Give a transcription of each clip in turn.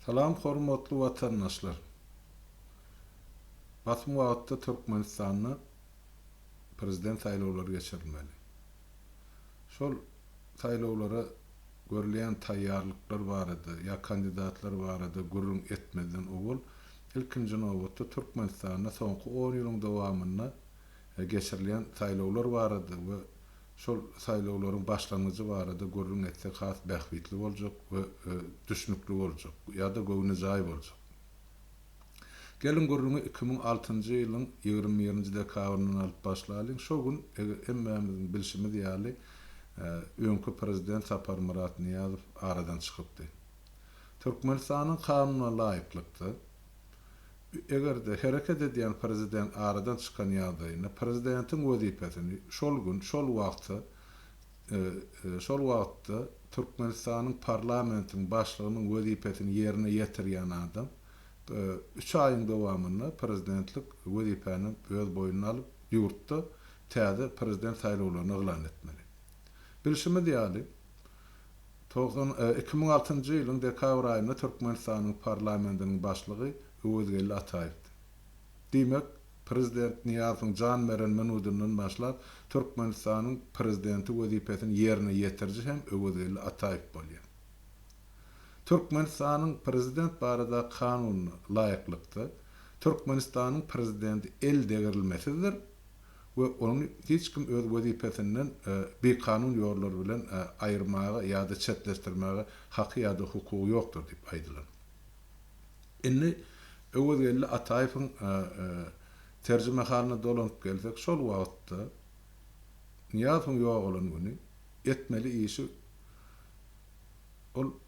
Salam hormatly watandaşlar! Basym wagtda Türkmenistanda Prezident saýlawlary geçirilmeli. Şol saýlawlara görülýän taýýarlyklar barada ýa kandidatlar barada gürrüň etmezden owal ilkinji nobatda Türkmenistanda soňky on ýylyň dowamynda geçirilýän saýlawlar barada we Şol saýlawlaryň başlangyjy barada gürrüň etsek has bähbitli boljak we düşnükli boljak ýa-da göwnejaý boljak. Geliň gürrüňi iki müň altynjy ýylyň ýigrimi birinji dekabryndan alyp başlalyň. Şo gün hemmämiziň bilşimiz ýaly öňki prezident Saparmyrat Nyýazow aradan çykypdy. Türkmenistanyň kanuna laýyklykda Eger-de hereket edýän prezident aradan çykan ýagdaýynda prezidentiň wezipesini şol gün, şol wagt, şol wagtda Türkmenistanyň parlamentiň başlygynyň wezipesini ýerine ýetirýän adam üç aýyň dowamynda prezidentlik wezipäni öz boýnuna alyp, ýurtda täze prezident saýlawlaryny yglan etmeli. Bilşimiz ýaly, Togsan iki müň altynjy ýylyň dekabr aýynda Türkmenistanyň Parlamentiniň Başlygy Öwezgeldi Ataýewdi. Diýmek, prezident Nyýazowyň jan beren minudyndan başlap, Türkmenistanyň Prezidenti wezipesini ýerine ýetiriji hem Öwezgeldi Ataýew bolýar. Türkmenistanyň Prezident barada Kanunyna laýyklykda, Türkmenistanyň Prezidenti eldegrilmesizdir we ony hiç kim öz wezipesinden bikanun ýollar bilen aýyrmaga ýa-da çetleşdirmäge haky ýa-da hukugy ýokdur diýip aýdylan. Indi Öwezgeldi Ataýewiň terjimehalyna dolanyp gelsek, şol wagtda, Nyýazowyň ýogalan güni, etmeli işi ol,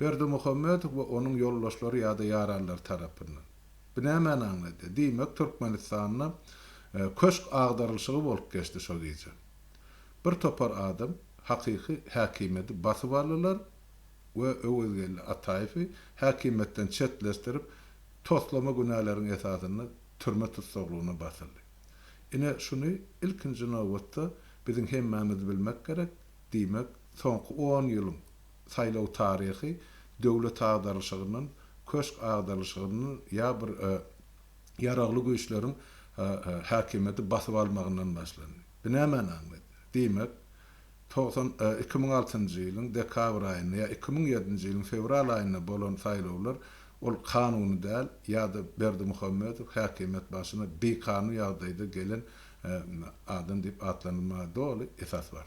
Berdimuhamedow we onuň ýoldaşlary ýa-da ýaranlary tarapyndan. Bu nämäni aňladýar? Diýmek, Türkmenistanda köşk agdarylyşygy bolup geçdi şo gije. Bir topar adam hakyky häkimiýeti basyp aldylar we Öwezgeldi Ataýewi häkimiýetden çetleşdirip, toslama günäleriň esasynda türme tussaglygyna basyldy. Ine, şuny ilkinji nobatda biziň hemmämiz bilmek gerek, diýmek, soňky on ýylyň saýlaw taryhy döwlet agdarylyşygyndan, köşk agdarylyşygyndan ýa bir ýaragly güýçleriň häkimiýeti basyp almagyndan başlandy. Bu nämäni aňladýar? Diýmek, togsan iki müň altynjy ýylyň dekabr aýynda ýa iki müň ýedinji ýylyň fewral aýynda bolan saýlawlar, ol kanuny däl ýa-da Berdimuhamedow häkimiýet başyna bikanun ýagdaýda gelen adam diýip atlandyrmaga doly esas bar.